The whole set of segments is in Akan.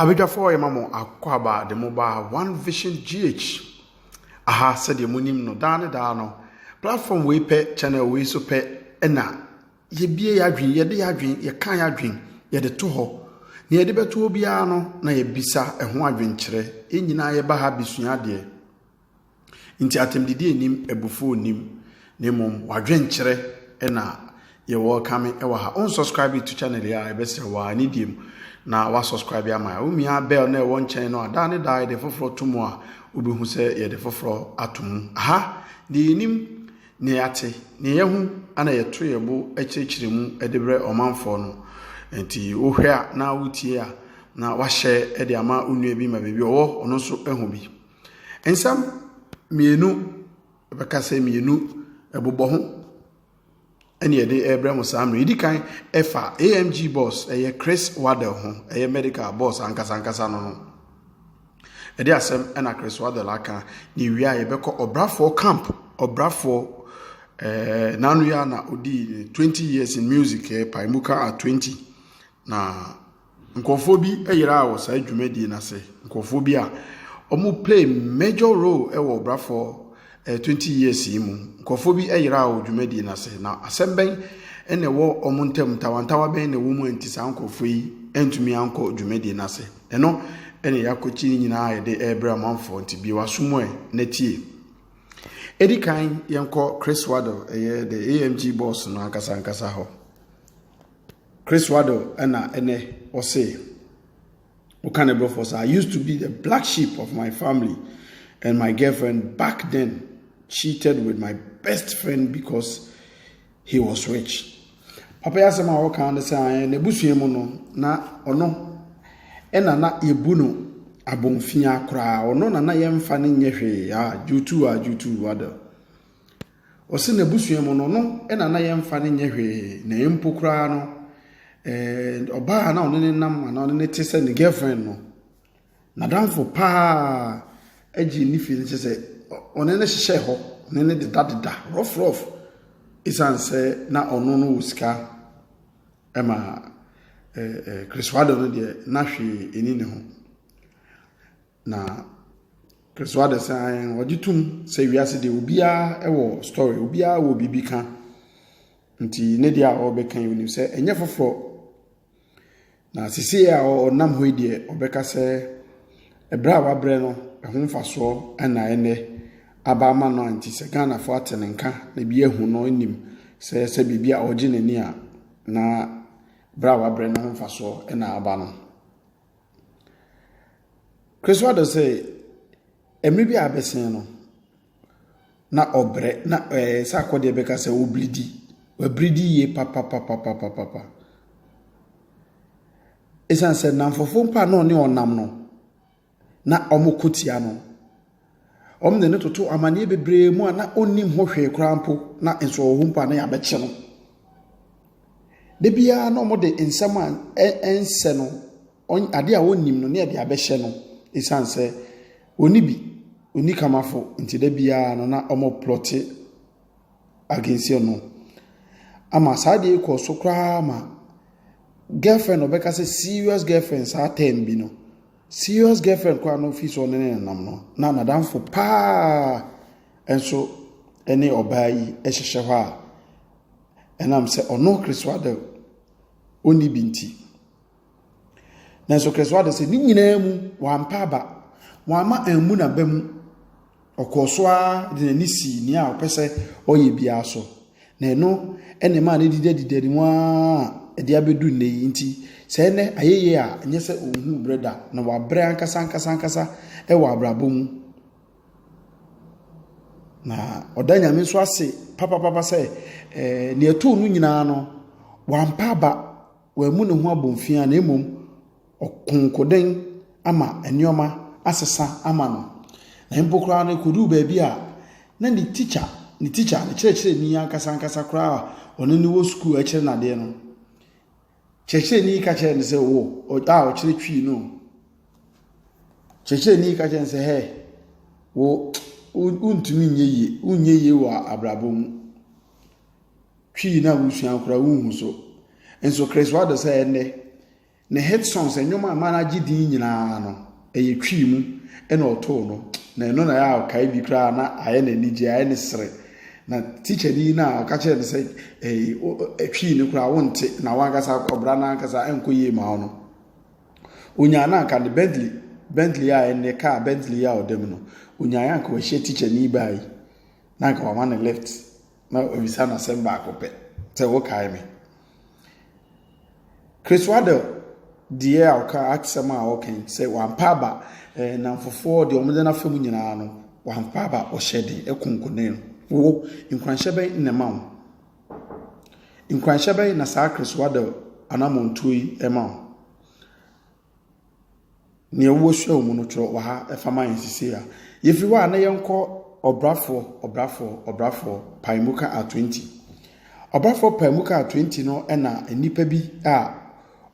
Abadwafoɔ yɛma mo akwaaba de mo ba One Vision GH aha sɛdeɛ mo nim no daa ne daa no platform wei pɛ channel wei so pɛ ɛna yɛbie yɛadwen yɛde yɛadwen yɛka yɛadwen yɛde to hɔ na yɛde bɛto hɔ biara no na yɛbisa ɛho adwenkyerɛ yɛn nyinaa yɛba ha bɛsua adeɛ Enti atɛmdidi nnim, abufuo nnim, na mmom w'adwenkyerɛ na yɛ welcome wɔ ha. Wo subscribe to channel yi a ɛbɛsrɛ wɔ a ne deɛ mu na wa subscribe ama yɛ. Womia bell na ɛwɔ nkyɛn no a daa ne daa yɛde foforɔ to mu a wobɛhu sɛ yɛde foforɔ ato mu. Aha deɛ yɛnim na yɛate na yɛahu ana yɛto yɛ bo kyerɛkyerɛ mu de brɛ ɔmanfoɔ no. Enti wohwɛ a na wotie a na wahyɛ de ama wo nua bi ma baabi ɔwɔ ɔno nso ahu bi. Nsɛm mmienu, bɛka sɛ mmienu ɛbobɔ ho ɛne ɛde ɛbrɛ mo saa mmerɛ. Ɛdi kan ɛfa AMG boss ɛyɛ Chris Waddell ho ɛyɛ medical boss ankasa ankasa no ho. Ɛde asɛm ɛna Chris Waddell aka na ɛwie a yɛbɛkɔ ɔbrafoɔ camp ɔbrafoɔ ɛɛ n'ano yɛ na ɔdi 20 years in music ɛɛ Paimuka at 20 na Nkorɔfoɔ bi yeraa wɔ saa dwumadie no ase, nkorɔfoɔ bi a wɔn play major role wɔ Brafɔɔ 20 years yi mu. Nkorɔfoɔ bi yeraa wɔ dwumadie no ase, na asɛm bɛn na ɛwɔ wɔn ntam, ntawantawa bɛn na ɛwɔ mu a nti saa nkorɔfoɔ yi antumi ankɔ dwumadie no ase? Ɛno na yɛakɔkyi ne nyinaa a yɛde rebrɛ amanfoɔ, nti bue w'aso mu ɛ na tie. Ɛdi kan yɛnkɔ Chris Waddle, ɛyɛ the AMG boss no ankasa ankasa hɔ. Chris Waddell ɛna ɛnɛ ɔse woka ne brɔfoɔ saa I used to be the black sheep of my family and my girlfriend back then cheated with my best friend because he was rich papa yi asɛm a wɔka ne sɛ ayɛ n'abusua mu no na ɔno ɛna na yɛbu no abɔnfia koraa ɔno na na yɛmfa no nyɛ hwee a jutu a jutu Waddell Ɔse n'abusua mu no, ɔno na na yɛmfa no nyɛ hwee, na mpo koraa no, eh, ɔbaa a na ɔne ne nam anaa ɔne ne te sɛ ne girlfriend no, n'adamfo paa agye ne fie no kyɛ sɛ ɔne ne hyehyɛɛ hɔ, ɔne ne dedadeda, rough rough, ɛsiane sɛ na ɔno no wɔ sika ɛma eh, eh, Chris Wado no deɛ na hwee ɛni ne ho. Na persuade sɛ ae ɔgye tom sɛ wiase deɛ obiara wɔ story, obiara wɔ biribi ka. Nti ne deɛ a ɔrebɛka yi onim sɛ ɛnyɛ foforɔ. Na sisi a ɔnam hɔ yi deɛ ɔbɛka sɛ ɛbrɛ a wabrɛ no ɛho mfasoɔ ɛna ɛnɛ aba ama no a nti sɛ Ghanafoɔ ate ne nka na ebi ahu no nim sɛ sɛ biribi a ɔgye n'ani a na berɛ a wabrɛ no ho mfasoɔ ɛna aba no. Kesewa de sɛ mmere bi a abɛsen no, na ɔbrɛ, na ɛɛ sɛ akɔdeɛ bɛka sɛ ɔrebiridi. Wabiridi yie papapapapapa. Ɛsiane sɛ nnamfofoɔ mpo a na ɔne wɔn nam no, na wɔko tia no. Wɔde no toto amanneɛ bebree mu a na ɔnnim ho hwee koraa mpo, na nso ɔwɔ hɔ mpo a na yɛabɛkye no. Da biara na wɔde nsɛm a ɛnsɛ no, adeɛ a ɔnnim no na yɛde abɛhyɛ no ɛsiane sɛ ɔnni bi, ɔnni kamafo nti da biara no na wɔplɔte against no. Ama saa adeɛ kɔɔ so koraa ma girlfriend ɔbɛka sɛ serious girlfriend saa term bi no. Serious girlfriend koraa no fii sɛ ɔne ne nenam no na nadamfo paa nso ne ɔbaa yi hyehyɛ hɔ a ɛnam sɛ ɔno keresoa de ɔnni bi nti. Nanso keresoa de sɛ ne nyinaa mu wampa aba, wama ammu n'aba mu. Ɔkɔɔ so ara de n'ani sii nea ɔpɛ sɛ ɔyɛ biara so, na ɛno na ɛmaa no didadidadi mu ara de abɛdu nnɛ yi. Nti sɛ ɛnnɛ ayɛ yie a, ɛnyɛ sɛ ɔnhuu berɛ da, na wabrɛ ankasa ankasa ankasa wɔ abrabɔ mu. Na ɔda Nyame nso ase papapapa sɛ ɛɛ nea ɛtoo no nyinaa no, wampa aba, wammu ne ho abomfiaa na mmom ɔkonkoden ama nneɛma asesa ama no, na mpo koraa no, ɛkɔduu baabi a na ne tikya, ne tikya, ne kyerɛkyerɛni ankasa ankasa koraa a ɔne no wɔ sukuu a ɛkyerɛ no adeɛ no, kyerɛkyerɛni yi ka kyerɛɛ no sɛ, wo a ɔkyerɛ Twi no, kyerɛkyerɛni yi ka kyerɛɛ no sɛ, hɛ, wo, wontumi nyɛ yie, wonyɛ yie wɔ abrabɔ mu. Twi no a wosua koraa wonhu so. Nso Chris Wilder sɛ ɛnnɛ, Ne hit songs, nnwom a ɛma no agye din nyinaa no, ɛyɛ Twi mu na ɔtoo no, na ɛno na ɛyɛ a ɔkae bi koraa a na ayɛ no anigye, ayɛ no sere. Na tikyani yi no a ɔka kyerɛɛ no sɛ ɛyi wo ɛ Twi no koraa wonte na w'ankasa ɔbra no ankasa ɛnkɔ yie mma wo no, onyaa no anka ne Bentley, Bentley a ɛnnɛ kaa Bentley yi a ɔda mu no, onyaeɛ anka wahyia tikyani baa yi na anka wama no lift na wabisa no asɛm baako pɛ sɛ wokae me. Chris Waddell deɛ a ɔka asɛm a ɔka yi sɛ wampa aba eh, namfofoɔ deɛ wɔn de n'afa mu nyinaa no wampa aba ɔhyɛ den ɛko nkonen no wo nkuranhyɛ bɛn na ɛma wo nkuranhyɛ bɛn na saa Chris Waddell anamɔntuo yi ɛma wo. Nea wɔasua wɔ mu no, twerɛ wɔ ha fa ma yɛn seesei a. Yɛfiri hɔ a, na yɛnkɔ Ɔbrafoɔ, Ɔbrafoɔ, Ɔbrafoɔ, Paemuka a 20. Ɔbrafoɔ Paemuka a 20 no na nnipa bi a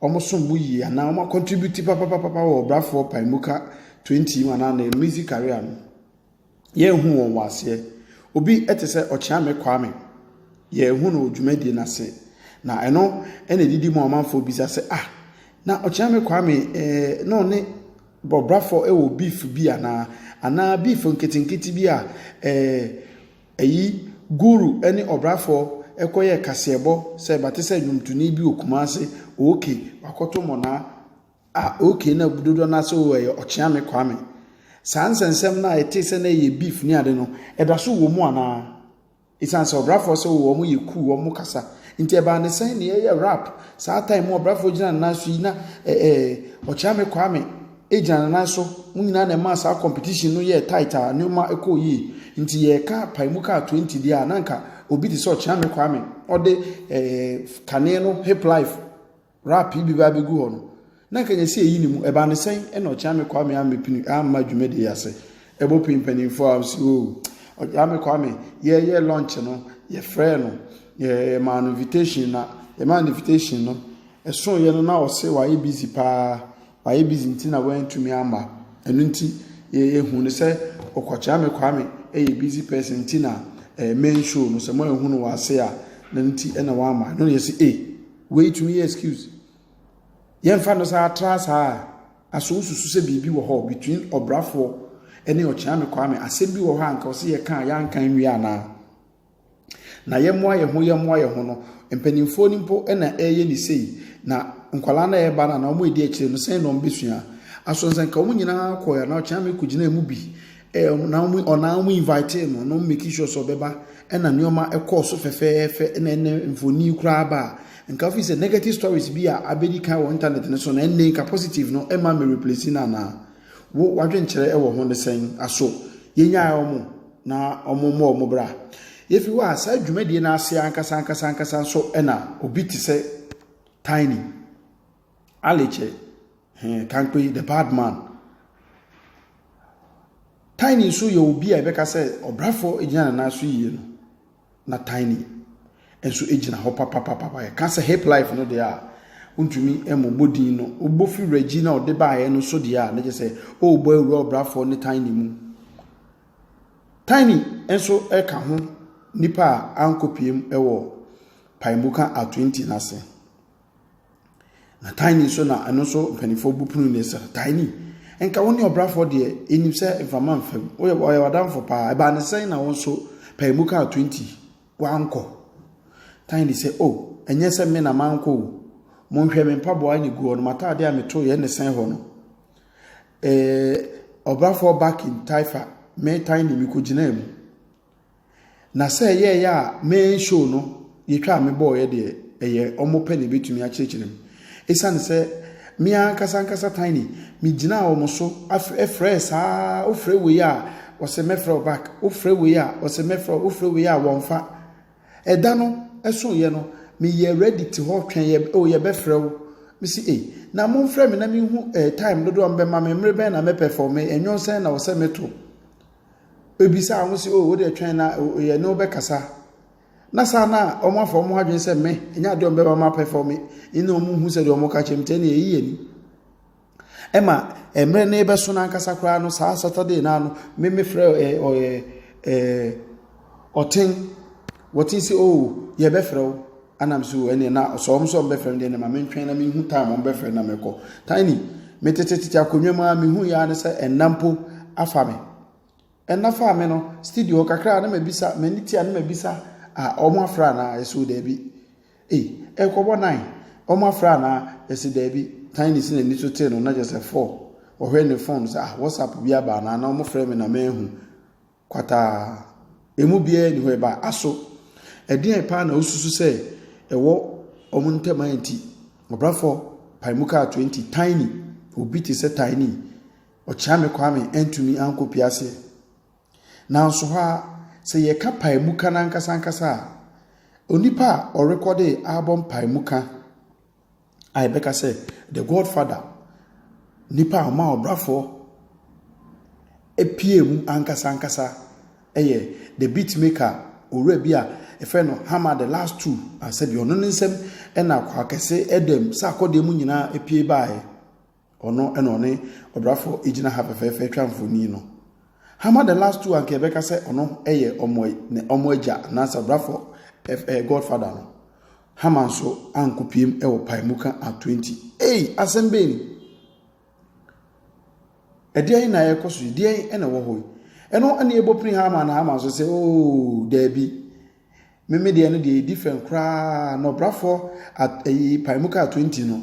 wɔsom bo yie anaa wɔn akɔntribute papapapa wɔ Ɔbrafoɔ Paemuka 20 mu anaa ne music career no. Yɛnhu wɔn wɔ aseɛ. Obi te sɛ Ɔkyeame Kwame, yɛnhu no wɔ dwumadie no ase. Na ɛno na ɛdidi mu amanfoɔ bisa sɛ, ah, na Ɔkyeame Kwame eh, na ɔne Bɔbrafoɔ wɔ beef bi anaa? Anaa beef nketenkete bi a eh, ɛyi Guru ne Ɔbrafoɔ ɛkɔyɛ kaseɛbɔ sɛ bate sɛ nnwomtoni bi wɔ Kumase, ok, wakɔto mmɔnaa. Ah, okay, na dodoɔ no ase wɔ ɛyɛ Ɔkyeame Kwame. Saa nsɛnsɛm no a ɛte sɛ na ɛyɛ beef ne ade no, ɛda so wɔ mu anaa? Ɛsiane sɛ ɔbrafoɔ sɛ wɔn yɛ cool, wɔn kasa. Nti ɛbaa ne sɛn na yɛyɛ rap. Saa time mu ɔbrafoɔ gyina ne nan so yi na eh, eh, Ɔkyeame Kwame gyina ne nan so. Mo nyinaa na ɛmaa saa competition no yɛɛ tight a nneɛma kɔɔ yie. Nti yɛreka pae mu kaa 20 deɛ a, na nka obi te sɛ Ɔkyeame Kwame ɔde eh, kane no hip life Rap yi bɛba abɛgu hɔ no, na anka nyɛ sɛ ɛyi ne mu. Ɛbaa ne sɛn? Ɛna Ɔkyeame Kwame ammɛpini amma dwumadie yi ase. Ɛbɔ pii mpanimfoɔ a wɔse oo, Ɔkyeame Kwame, yɛreyɛ launch no, yɛfrɛɛ no, yɛmaa no invitation na yɛmaa no invitation no, ɛsoeɛ no na ɔse wayɛ busy paa, wayɛ busy nti na wantumi amma. Ɛno nti, yɛhu no sɛ Ɔkyeame Kwame yɛ busy person nti na main show no, sɛ moanhu no wɔ ase a, na nti na wamma. Ɛno na yɛse ee. Wei tumi yɛ excuse. Yɛmfa no saa tra saa a, aso wosusu sɛ biribi wɔ hɔ between ɔbrafoɔ ne ɔkyeame kwame. Asɛm bi wɔ hɔ a nka ɔsɛ yɛka a yɛanka nwie anaa? Na yɛmmoa yɛn ho yɛmmoa yɛn ho no, mpanimfoɔ no mpo na ɛreyɛ ne sei. Na nkwadaa no a ɛreba no anaa wɔn a ɛdi akyire no, sɛn na wɔbɛsua? Aso sɛ nka wɔn nyinaa kɔɛ a, na ɔkyeame kɔgyinaa mu bi Eh, na wɔn ɔnaa wɔn invitee no na wɔn making sure sɛ ɔbɛba ɛna nneɛma ɛkɔɔ so fɛfɛɛfɛ ɛna ɛnɛ mfoni koraa ba a nka fi sɛ negative stories bi a abɛdi kan wɔ internet no so na ɛnɛ nka positive no ɛma me replace no anaa wo wadwenkyerɛ ɛwɔ ho ne sɛn aso yɛnyae wɔn na wɔn mmɔ wɔn bra yɛfi hɔ a saa dwumadie no ase ankasa ankasa ankasa nso ɛna obi te sɛ tiny Ali kyɛ hee Kankpe yi the bad man. Tiny nso yɛ obi a yɛbɛka sɛ ɔbrafoɔ gyina ne nan so yie no na Tiny nso gyina hɔ papapapapa yɛka sɛ hip life no deɛ a wontumi mmobɔ din no wobɔ fi wuragyi na ɔde baeɛ no so deɛ a na kyerɛ sɛ ɔrebɔ awura ɔbrafoɔ ne Tiny mu Tiny nso ka ho nipa a ankɔpiem wɔ Paemuka Atwenti no ase. Na Tiny nso na ɛno nso mpanimfoɔ bu pono ne sɛ Tiny nka wo ne ɔbrafoɔ deɛ ɛnim sɛ mfama mfam woyɛ ɔyɛ wadamfo paa ɛbaa ne sɛn na wo nso pɛɛ mu kaa 20 wankɔ Tiny sɛ o oh, ɛnyɛ sɛ me na mankɔ o monhwɛ me mpaboa ne gu hɔ no mataadeɛ a meto yɛ ne sɛn hɔ no ɛɛ ɔbrafoɔ back in Taifa me Tiny mekɔgyinaa mu Na sɛ ɛyɛeɛ a main show no yɛtwa a mebɔɔeɛ deɛ ɛyɛ wɔn pɛ na ɛbɛtumi akyerɛkyerɛ mu. Ɛsiane sɛ me ankasa ankasa Tiny megyinaa wɔn so frɛɛ saa wofrɛ wei a ɔsɛ mɛfrɛ wo back wofrɛ wei a ɔsɛ mɛfrɛ wo wofrɛ wei a wɔmfa. Ɛda no ɛsoeɛ no meyɛ ready te hɔ twɛn yɛ o yɛbɛfrɛ wo mesi ei na momfrɛ me na menhu eh, time dodoɔ a mobɛma me mmere bɛn na mɛpɛfɔme ɛnwom sɛn na ɔsɛ meto bɛbisaa ho sɛ, o, wo deɛ twɛn na yɛne wo bɛkasa. Na saa na wɔafa wɔn adwene sɛ me, ɛnyɛ adeɛ a wɔbɛma ma apɛ fam, ɛna wɔhu sɛ deɛ wɔka kyerɛ me nti, ɛna ɛyi yɛ ni. Ɛma mmerɛ no rebɛso no ankasa koraa no, saa Saturday no ara no, me mefrɛ ɛɛ ɔyɛ ɛɛ. Ɔtsen, wɔtse se oh yɛbɛfrɛ wo, ana mese oh ɛneɛ na sɛ wɔn nso wɔbɛfrɛ me deɛ ɛneɛ ma mentwɛn na menhu time wɔn bɛfrɛ na mɛkɔ. Tiny, metetetete akonnwa mu ara mehu yɛ ara ne sɛ ɛnna mpo afa me. Ɛnna faa me no, studio hɔ kakra na mabisa, m'ani tia na mabisa, ah wɔn afrɛ anaa? Yɛse oh daabi. Ei, ɛrekɔbɔ nine, wɔn afrɛ anaa? Yɛse daabi. Tiny se n'ani so tee no na kyerɛ sɛ four. Ɔhwɛ ne phone sɛ ah WhatsApp bi aba anaa na wɔfrɛ me na manhu. Kwataa. Emu biara nni hɔ, ɛba aso. Ɛdeɛn paa na wosusu sɛ ɛwɔ wɔn ntam a enti Ɔbrafo pae mu kaa 20 Tiny, obi te sɛ Tiny, Ɔkyeame Kwame antumi ankɔpie aseɛ? Nanso hɔ ara, sɛ yɛka pae mu ka no ankasa ankasa a, onipa a ɔrekɔdee album pae mu ka a yɛbɛka sɛ the God father, nipa a ɔmaa ɔbrafo pue mu ankasa ankasa yɛ the beat maker, owura bi a yɛfrɛ no Hammer the last two. Sɛdeɛ ɔno ne nsam na Kwakɛse Adam sɛ akɔdeɛ mu nyinaa pue baeɛ. Ɔno na ɔne ɔbrafo egyina ha fɛfɛɛfɛ twa mfoni no. Hama the last two anka yɛbɛka sɛ ɔno yɛ ɔmo ne ɔmo agya anaasɛ ɔbrafo ɛɛ godfather no. Hama nso anko piem wɔ paemuka at twenty. Ei asɛm bɛn ni? Ɛdeɛn na ɛkɔ so yi? Deɛn na ɛwɔ hɔ yi? Ɛno ɛna ɛbɔ pini Hama na Hama nso sɛ ooo daabi. Me me deɛ no deɛ ɛdi fɛn koraa na ɔbrafoɔ at ɛyi pae mu kaa twenty no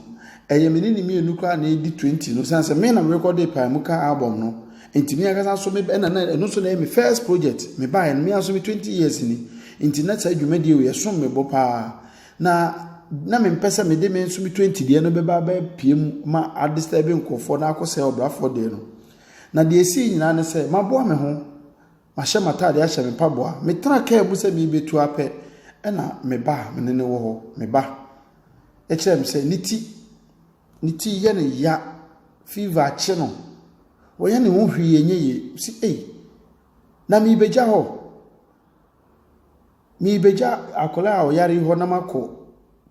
ɛyɛ me ne ne mmienu koraa na ɛdi twenty no san sɛ me na me rekɔde pae mu kaa album no nti me ankasa nso me ɛna na ɛno nso na ɛyɛ me first project me baeɛ no me nso me twenty years ni nti na saa dwumadie wei ɛsom me bo paa na na me mpɛ sɛ me de me nso me twenty deɛ no bɛba bɛpie mu ma adisturb nkurɔfoɔ na akɔsɛ ɔbrafoɔ deɛ no na deɛ ɛsii nyinaa ne sɛ maboa me ho Mahyɛ m'atade ahyɛ me mpaboa. Metraa kaa mu sɛ merebetu ara pɛ, ɛnna me ba a me ne no wɔ hɔ, me ba, kyerɛɛ me sɛ ne ti, ne ti yɛ no ya, fever akye no. Wɔyɛ ne ho hwee ɛnyɛ yie. Mese, ei, na merebɛgya hɔ. Merebɛgya akwadaa a ɔyare yi hɔ na makɔ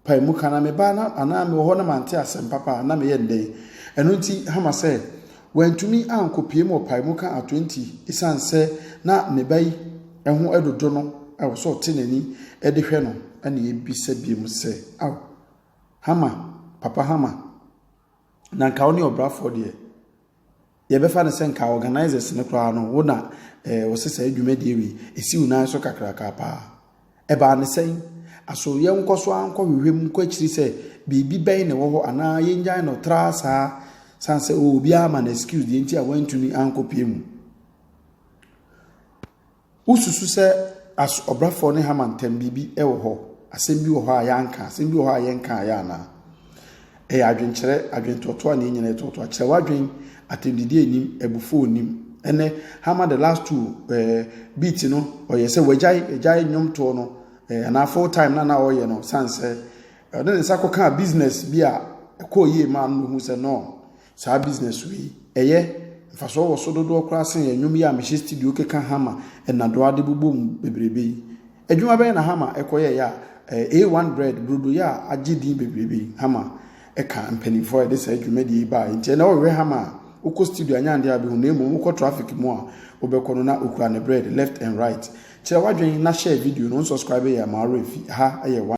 pae mu ka na me baa na anaa mewɔ hɔ na mante asɛm papa a na meyɛ no dɛn? Ɛno nti, Hama sɛ wantumi ankɔpue mu wɔ pae mu ka ato nti ɛsiane sɛ na ne ba yi ho adwodwo no ɛwɔ sɛ ɔte n'ani de hwɛ no na yɛbisa biom sɛ, Ao, Hama, Papa Hama, na nka wo ne ɔbrafoɔ deɛ Yɛbɛfa no sɛ nka organisers no koraa no wo na eh, wɔse saa dwumadie wei ɛsi wo nan so kakraka paa. Ɛbaa ne sɛn? Aso yɛnkɔ so ara nkɔ hwehwɛ mu kɔ akyiri sɛ biribi bɛn na ɛwɔ hɔ anaa yɛngyae no traa saa sane sɛ oh, obiara ma no excuse deɛ nti a wantumi ankɔpie mu. Wosusu sɛ as ɔbrafoɔ ne Haman ntam biribi wɔ hɔ? Asɛm bi wɔ hɔ a yɛanka? Asɛm bi wɔ hɔ a yɛnkaeɛ anaa? Ɛyɛ adwenkyerɛ, adwentɔɔtɔɔ a ne nyinaa yɛ tɔɔtɔɔ. Akyerɛ w'adwen, atɛmdidi nnim, abufuo nnim. Ɛnɛ, Haman the last two eh, beat no, ɔyɛ sɛ wagyae, agyae nnwomtoɔ no eh, anaa full time na na ɔreyɛ no, sane sɛ ɔde ne nsa kɔkaa business bi a ɛkɔɔ yie maa no na ɔhu sɛ no, saa business wei yi, ɛyɛ, mfasoɔ wɔ so dodoɔ koraa sen yɛn nnwom yi a mehyɛ studio keka hammer na doa de bobɔ mu bebrebe yi. Adwuma bɛn na hammer kɔyɛeɛ a ɛɛ A1 bread, brodo yɛ a agye din bebrebe yi, hammer ka mpanimfoɔ a wɔde saa dwumadie yi baeɛ. Nti ɛnnɛ wohwehwɛ hammer a, wokɔ studio anyɛ adeɛ a wobɛhu no, na mmom wokɔ traffic mu a wobɛkɔ no na ɔkura ne bread left and right. Kyerɛ w'adwene na share video no, wo nsɔskraibe yɛn a ma wo werɛ mfi. Ɛha yɛ one.